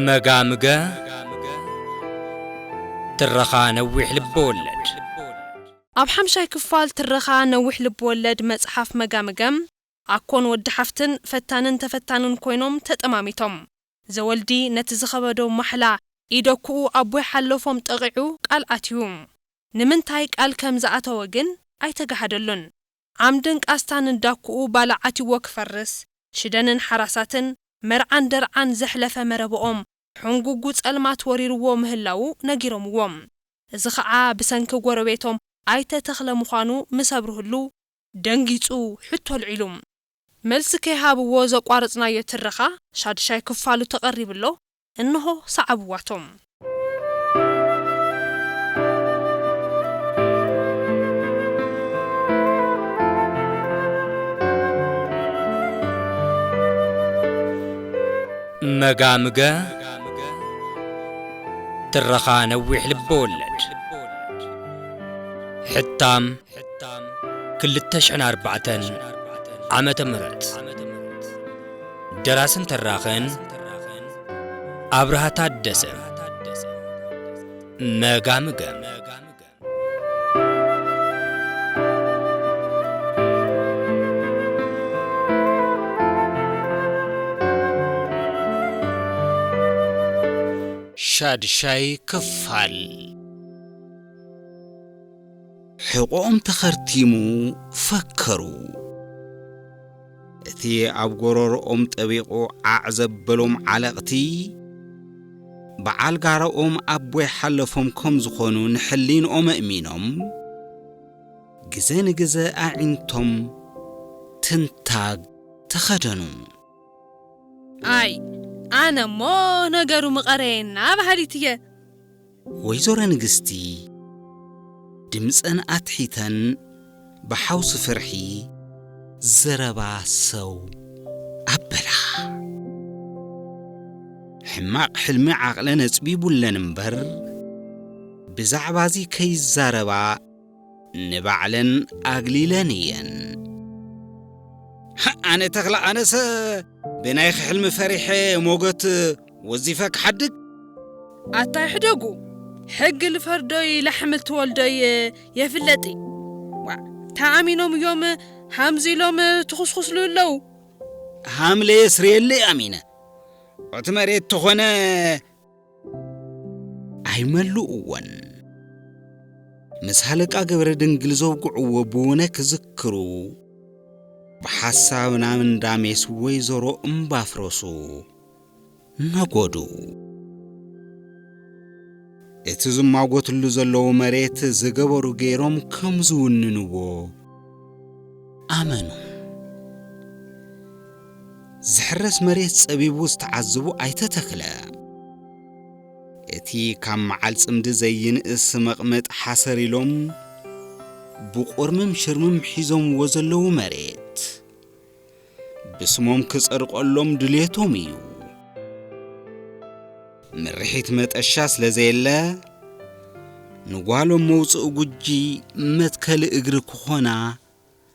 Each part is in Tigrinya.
መጋምገ ትረኻ ነዊሕ ልበወለድ። ኣብ ሓምሻይ ክፋል ትረኻ ነዊሕ ልብወለድ መጽሓፍ መጋምገ፣ ኣኮን ወዲ ሓፍትን ፈታንን ተፈታንን ኮይኖም ተጠማሚቶም ዘወልዲ ነቲ ዝኸበዶ ማሕላ ኢደኩኡ ኣቦይ ሓሎፎም ጠቒዑ ቃል ኣትዩ። ንምንታይ ቃል ከም ዝኣተወ ግን ኣይተጋሃደሉን። ዓምድን ቃስታን እንዳኩኡ ባላ ዓቲዎ ክፈርስ፣ ሽደንን ሓራሳትን፣ መርዓን ደርዓን ዘሕለፈ መረብኦም ሑንጉጉ ጸልማት ወሪሩዎ ምህላዉ ነጊሮምዎ። እዚ ኸዓ ብሰንኪ ጎረቤቶም ኣይተ ተኽለ ምዃኑ ምስ ኣብርህሉ ደንጊጹ ሕቶ ኣልዒሉ። መልሲ ከይሃብዎ ዘቋረጽናዮ ትረኻ ሻድሻይ ክፋሉ ተቐሪቡ ኣሎ እንሆ ሰዓብዋቶም። መጋምገ ትረኻ ነዊሕ ልበወለድ ሕታም ክልተ ሽሕን ኣርባዕተን ዓመተ ምህረት ደራስን ተራኽን ኣብርሃ ታደሰ መጋምገም ሻድሻይ ክፋል ሕቖኦም ተኸርቲሙ ፈከሩ። እቲ ኣብ ጎረሮኦም ጠቢቑ ዓዕ ዘበሎም ዓለቕቲ፣ በዓል ጋራኦም ኣቦይ ሓለፎም ከም ዝኾኑ ንሕሊንኦም ኣእሚኖም፣ ግዘ ንግዘ ኣዒንቶም ትንታግ ተኸደኑ። ኣይ ኣነ እሞ ነገሩ ምቐረየና በሃሊት እየ። ወይዘሮ ንግስቲ ድምጸን ኣትሒተን ብሓውሲ ፍርሒ ዘረባ ሰው ኣበላ። ሕማቕ ሕልሚ ዓቕለን ኣጽቢቡለን እምበር ብዛዕባ'ዚ ከይዛረባ ንባዕለን ኣግሊለን እየን። ኣነ ተኽላ ኣነሰ ብናይኺ ሕልሚ ፈሪሐ ሞገት ወዚፈ ክሓድግ። ኣታ ይሕደጉ ሕጊ ልፈርዶይ ላሕሚ ልትወልዶይ የፍለጢ ዋእ ተኣሚኖም እዮም ሃምዚ ኢሎም ትኹስኹስሉ ኣለዉ። ሃምለ የስርየለይ ኣሚነ እቲ መሬት ተኾነ ኣይመልእዎን ምስ ሃለቃ ገብረ ድንግል ዘውግዕዎ ብውነ ክዝክሩ ብሓሳብ ናብ እንዳሜስ ወይዘሮ እምባፍረሱ ነጎዱ። እቲ ዝማጎትሉ ዘለዉ መሬት ዝገበሩ ገይሮም ከም ዝውንንዎ ኣመኑ። ዝሕረስ መሬት ጸቢቡ ዝተዓዝቡ ኣይተ ተኽለ፣ እቲ ካብ መዓል ጽምዲ ዘይንእስ መቕመጥ ሓሰር ኢሎም ብቑርምም ሽርምም ሒዞምዎ ዘለዉ መሬት፣ ብስሞም ክጸድቐሎም ድልየቶም እዩ። ምርሒት መጠሻ ስለ ዘየለ፣ ንጓሎም መውጽኢ ጉጂ መትከሊ እግሪ ክኾና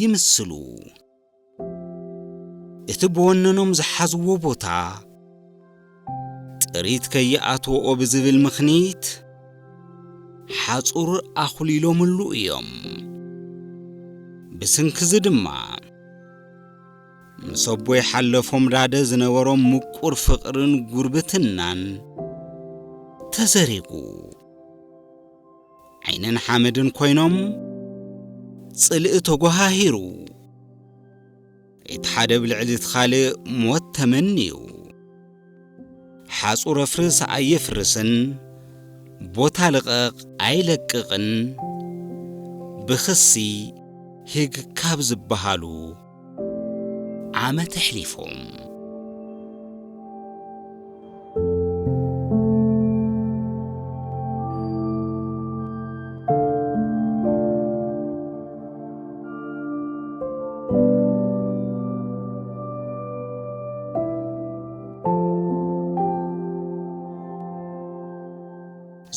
ይምስሉ። እቲ ብወነኖም ዝሓዝዎ ቦታ ጥሪት ከይኣትዎኦ ብዝብል ምኽኒት ሓፁር ኣኹሊሎምሉ እዮም። ብስንክዚ ድማ ምስ ኣቦይ ሓለፎም ዳደ ዝነበሮም ምቁር ፍቕርን ጉርብትናን ተዘሪጉ። ዓይንን ሓመድን ኮይኖም ጽልኢ ተጓሃሂሩ እቲ ሓደ ብልዕሊ እቲ ካልእ ሞት ተመንዩ ሓጹር ኣፍርስ ኣየፍርስን ቦታ ልቐቕ ኣይለቅቕን ብኽሲ ሂግ ካብ ዝበሃሉ ዓመት ኣሕሊፎም።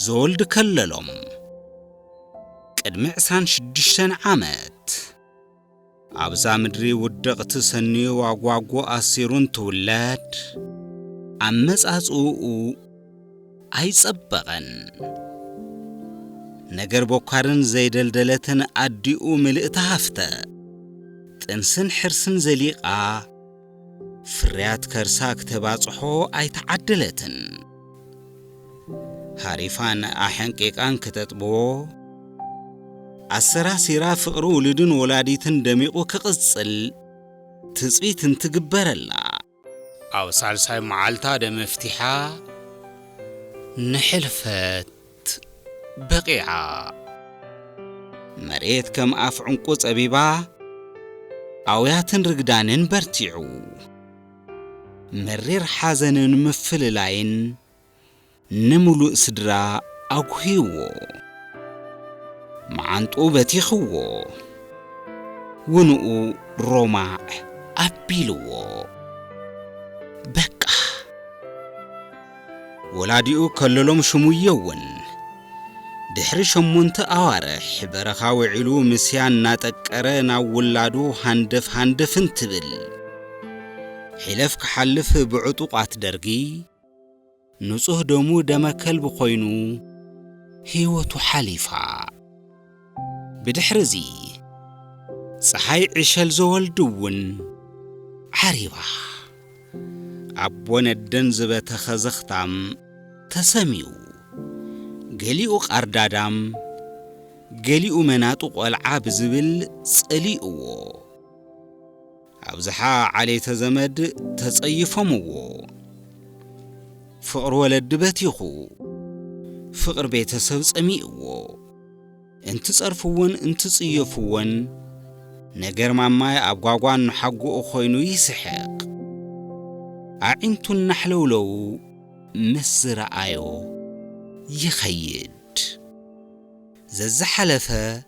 ዘወልድ ከለሎም ቅድሚ ዕስራን ሽዱሽተን ዓመት ኣብዛ ምድሪ ውድቕቲ ሰንዩ ዋጓጉ ኣሲሩ እንትውለድ ኣመጻጽእኡ ኣይጸበቐን። ነገር ቦካርን ዘይደልደለትን ኣዲኡ ምልእቲ ሃፍተ ጥንስን ሕርስን ዘሊቓ ፍርያት ከርሳ ክተባጽሖ ኣይተዓደለትን። ሃሪፋን ኣሐንቂቃን ክተጥብዎ፣ ኣሰራሲራ ፍቕሪ ውሉድን ወላዲትን ደሚቑ ክቕጽል ትጽቢት እንትግበረላ፣ ኣብ ሳልሳይ መዓልታ ደመፍቲሓ ንሕልፈት ዓመት በቒዓ። መሬት ከም ኣፍ ዑንቊ ጸቢባ ኣውያትን ርግዳንን በርቲዑ። መሪር ሓዘንን ምፍልላይን ንምሉእ ስድራ ኣጕህይዎ። መዓንጥኡ በቲኽዎ። ውንኡ ሮማዕ ኣቢልዎ። በቃ! ወላዲኡ ከለሎም ሽሙ የወን ድሕሪ ሸሞንተ ኣዋርሕ በረኻ ውዒሉ ምስያ እናጠቀረ ናብ ውላዱ ሃንደፍ ሃንደፍ እንትብል ሒለፍ ክሓልፍ ብዕጡቋት ደርጊ ንጹህ ደሙ ደመ ከልቢ ኮይኑ ህይወቱ ሓሊፋ። ብድሕሪ እዚ ጸሓይ ዕሸል ዘወልድ'ውን ዓሪባ። ኣቦ ነደን ዝበተኸ ዘኽታም ተሰምዩ። ገሊኡ ቃርዳዳም፣ ገሊኡ መናጡ ቆልዓ ብዝብል ጸሊኡዎ። ኣብዝሓ ዓሌተ ዘመድ ተጸይፎምዎ። ፍቕሪ ወለዲ በቲኹ። ፍቕሪ ቤተሰብ ጸሚእዎ። እንትጸርፍዎን እንትጽየፍዎን ነገር ማማይ ኣብ ጓጓ እኖሓጎኡ ኮይኑ ይስሕቕ። ኣዒንቱ እናሕለውለው ምስ ዝረኣዮ ይኸይድ። ዘዝሓለፈ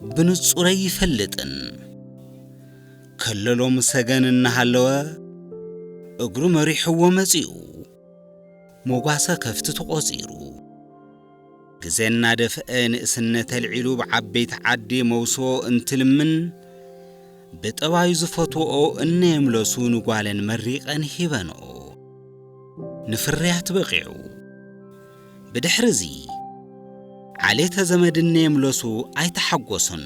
ብንጹር ኣይፈልጥን ከለሎም ሰገን እናሃለወ እግሩ መሪሕዎ መጺኡ ሞጓሰ ከፍቲ ተቖጺሩ ግዜ እናደፍአ ንእስነት ኣልዒሉ ብዓበይቲ ዓዲ መውስቦ እንትልምን ብጠባዩ ዝፈትወኦ እነየምለሱ ንጓለን መሪቐን ሂበንኦ ንፍርያት በቒዑ ብድሕሪ እዚ ዓሌተ ዘመድን ነየምለሱ ኣይተሓጎሱን።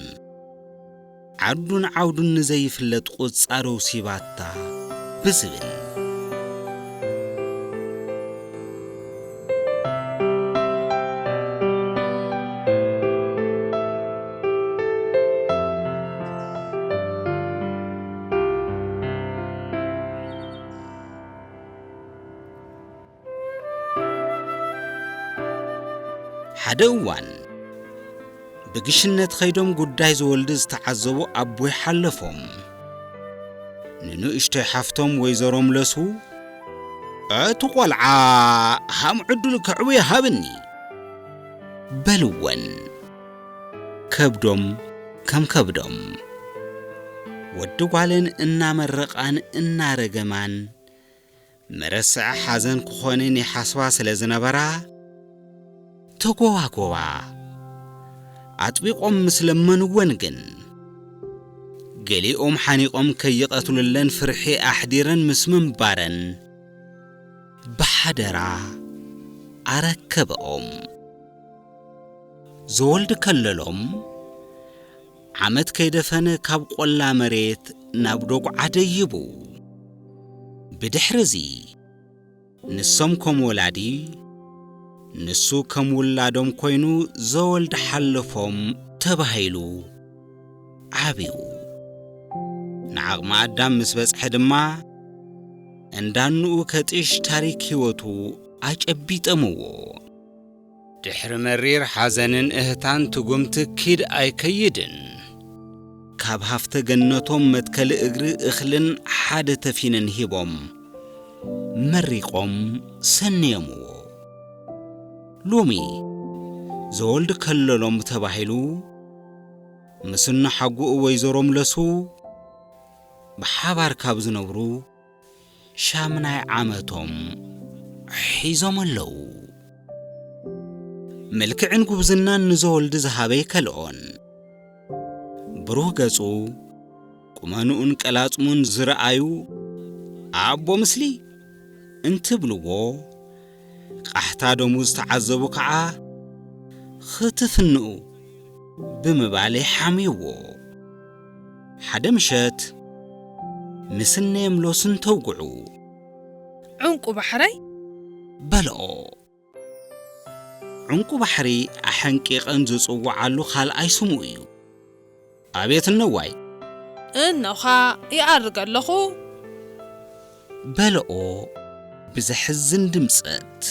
ዓዱን ዓውዱን ንዘይፍለጥ ቁጻርው ሲባታ ብዝብል። ሓደ እዋን ብግሽነት ኸይዶም ጉዳይ ዝወልድ ዝተዓዘቡ ኣቦይ ሓለፎም ንንእሽቶይ ሓፍቶም ወይዘሮ ምለሱ እቲ ቈልዓ ሃም ዕድሉ ከዕቡ ይሃብኒ በልወን ከብዶም ከም ከብዶም ወዲ ጓለን እናመረቓን እናረገማን መረስዐ ሓዘን ክኾንን ይሓስባ ስለ ዝነበራ፣ ተጎባጎባ። ኣጥቢቖም ምስ ለመንወን ግን፣ ገሊኦም ሓኒቖም ከይቐትሉለን ፍርሒ ኣሕዲረን ምስ ምንባረን፣ ብሓደራ ኣረከበኦም። ዘወልድ ከለሎም፣ ዓመት ከይደፈነ ካብ ቆላ መሬት ናብ ዶጉዓ ደይቡ። ብድሕር'ዚ ንሶም ከም ወላዲ ንሱ ከም ውላዶም ኮይኑ ዘወልድ ሓለፎም ተባሂሉ ዓብዩ። ንዓቕመ ኣዳም ምስ በጽሐ ድማ እንዳኑኡ ከጢሽ ታሪክ ህይወቱ ኣጨቢጠምዎ። ድሕሪ መሪር ሓዘንን እህታን ትጉምቲ ኪድ ኣይከይድን። ካብ ሃፍተ ገነቶም መትከሊ እግሪ እኽልን ሓደ ተፊንን ሂቦም መሪቖም ሰንየምዎ። ሎሚ ዘወልድ ከለሎም ተባሂሉ ምስ እኖ ሓጉኡ ወይዘሮ ምለሱ ብሓባር ካብ ዝነብሩ፣ ሻምናይ ዓመቶም ሒዞም ኣለዉ። ምልክዕን ጉብዝናን ንዘወልድ ዝሃበ ይከልኦን። ብሩህ ገጹ፣ ቁመንኡን ቀላጽሙን ዝርኣዩ ኣቦ ምስሊ እንትብልዎ፣ ቃሕታ ደሙ ዝተዓዘቡ ከዓ ኽትፍንኡ ብምባል የሓምይዎ። ሓደ ምሸት ምስነየም ሎስን ተውግዑ። ዑንቊ ባሕረይ! በልኦ። ዑንቊ ባሕሪ ኣሐንቂቐን ዝጽውዓሉ ካልኣይ ስሙ እዩ። ኣቤት እነዋይ! እነዃ ይኣርግ ኣለኹ። በልኦ ብዘሕዝን ድምጸት።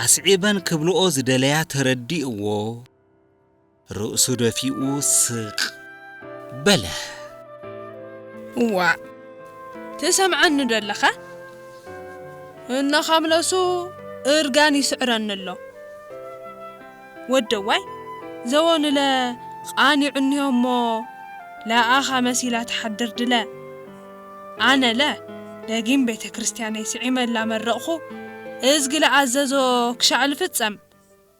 ኣስዒበን ክብልኦ ዝደለያ ተረዲእዎ። ርእሱ ደፊኡ ስቕ በለ። እዋእ! ትሰምዓኒዶ ኣለኻ? እናኻምለሱ እርጋን ይስዕረኒ ኣሎ። ወደዋይ ዘወንለ ቓኒዑ እኒሆ'ሞ ለኣኻ መሲላ ትሓድር ድለ። ኣነለ ደጊም ቤተ ክርስቲያነይ ስዒመ እላመረቕኹ እዝጊ ለኣዘዞ ክሻዕ ልፍጸም።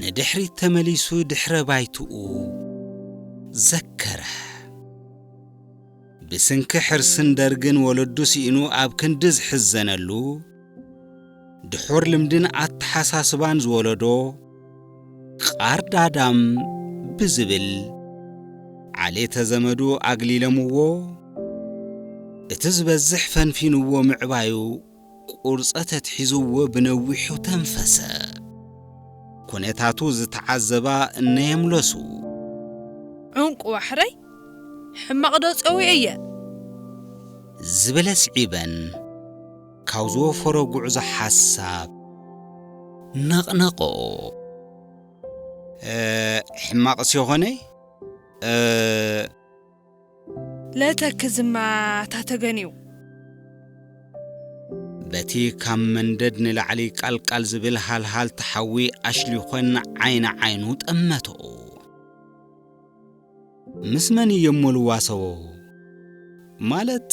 ንድሕሪት ተመሊሱ ድሕረ ባይትኡ ዘከረ። ብስንኪ ሕርስን ደርግን ወለዱ ስኢኑ ኣብ ክንዲ ዝሕዘነሉ፣ ድሑር ልምድን ኣተሓሳስባን ዝወለዶ ቓርዳዳም ብዝብል ዓሌተ ዘመዱ ኣግሊለምዎ፣ እቲ ዝበዝሕ ፈንፊንዎ ምዕባዩ ቁርጸት ኣትሒዝዎ ብነዊሑ ተንፈሰ። ኩነታቱ ዝተዓዘባ እነ የምለሱ። ዑንቂ ዋሕረይ ሕማቕዶ ጸዊዐየ? ዝብል ኣስዒበን ካብ ዝወፈሮ ጉዕዞ ሓሳብ ነቕነቐኦ። ሕማቕስ የኾነይ? ለተክዝማ እታ ተገንዩ። በቲ ካብ መንደድ ንላዕሊ ቃልቃል ዝብል ሃልሃልታ ሓዊ ኣሽሊኾን ዓይኒ ዓይኑ ጠመተኦ። ምስ መን እየ'ሞ ልዋሰቦ? ማለት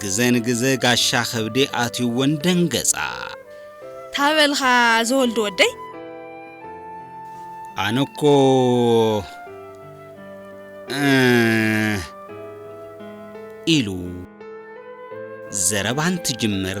ግዘ ንግዘ ጋሻ ከብዲ ኣትዩወን ደንገፃ። ታበልካ ዝወልድ ወደይ። ኣነ እኮ እህ ኢሉ ዘረባ እንትጅምር።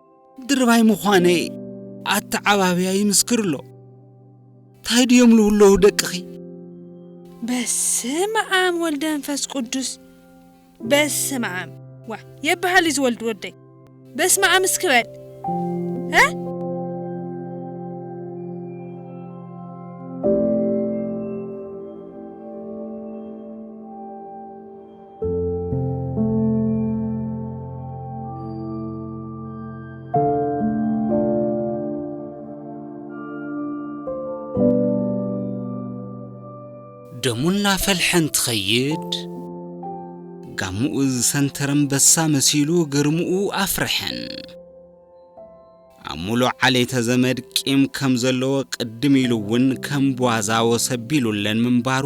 ድርባይ ምዃነይ ኣተዓባብያ ይምስክር ኣሎ። ታይ ድዮም ልውለዉ ደቅኺ? በስመ ኣም ወልደንፈስ ቁዱስ በስመ ኣም ዋ የብሃል እዩ ዝወልድ ወደይ በስመ ኣም እስኪ በል እ ደሙ እናፈልሐ እንትኸይድ ጋሙኡ ዝሰንተረ ኣንበሳ መሲሉ ግርምኡ ኣፍርሐን። ኣብ ሙሉእ ዓሌተ ዘመድ ቂም ከም ዘለዎ ቅድም ኢሉ እውን ከም ቧዛ ወሰቢሉለን ምንባሩ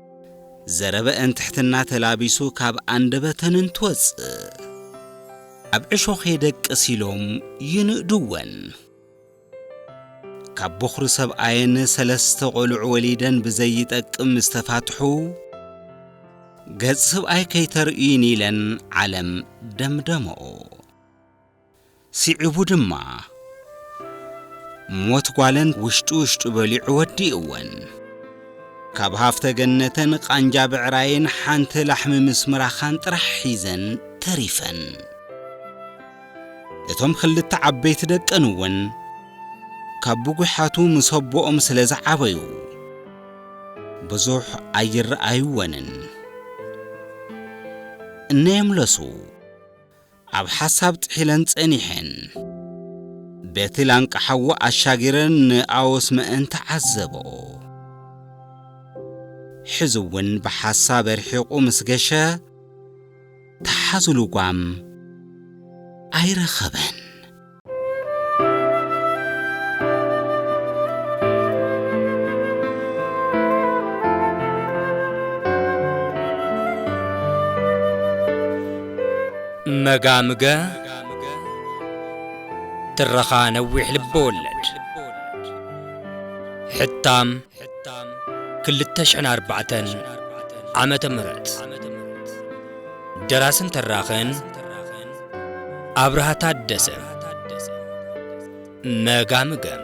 ዘረበአን ትሕትና ተላቢሱ ካብ ኣንደበተን እንትወጽእ። ኣብ ዕሾኽ የደቅስ ኢሎም ይንእድወን። ካብ ቦኽሪ ሰብኣየን ሰለስተ ቆልዑ ወሊደን ብዘይጠቅም ምስ ተፋትሑ። ገጽ ስብኣይ ከይተርእዩኒ ኢለን ዓለም ደምደመኦ። ሲዒቡ ድማ ሞት ጓለን ውሽጡ ውሽጡ በሊዑ ወዲእወን። ካብ ሃፍተ ገነተን ቃንጃ ብዕራይን ሓንቲ ላሕሚ ምስ ምራኻን ጥራሕ ሒዘን ተሪፈን። እቶም ክልተ ዓበይቲ ደቀን እውን ካብ ብጒሓቱ ምስ ኣቦኦም ስለ ዝዓበዩ ብዙሕ ኣይረኣዩወንን። እነ የምለሱ። ኣብ ሓሳብ ጥሒለን ጸኒሐን። በቲ ላንቃ ሓዊ ኣሻጊረን ንኣዎስ መእን ተዓዘበኦ። ሕዚ ውን ብሓሳብ ኣርሒቑ ምስ ገሸ፣ ተሓዙ ልጓም ኣይረኸበን። መጋምገ ትረኻ ነዊሕ ልበወለድ ሕታም ሕታም ክልተ ሽሕን ኣርባዕተን ዓመተ ምህረት ደራስን ተራኽን ኣብርሃ ታደሰ መጋምገም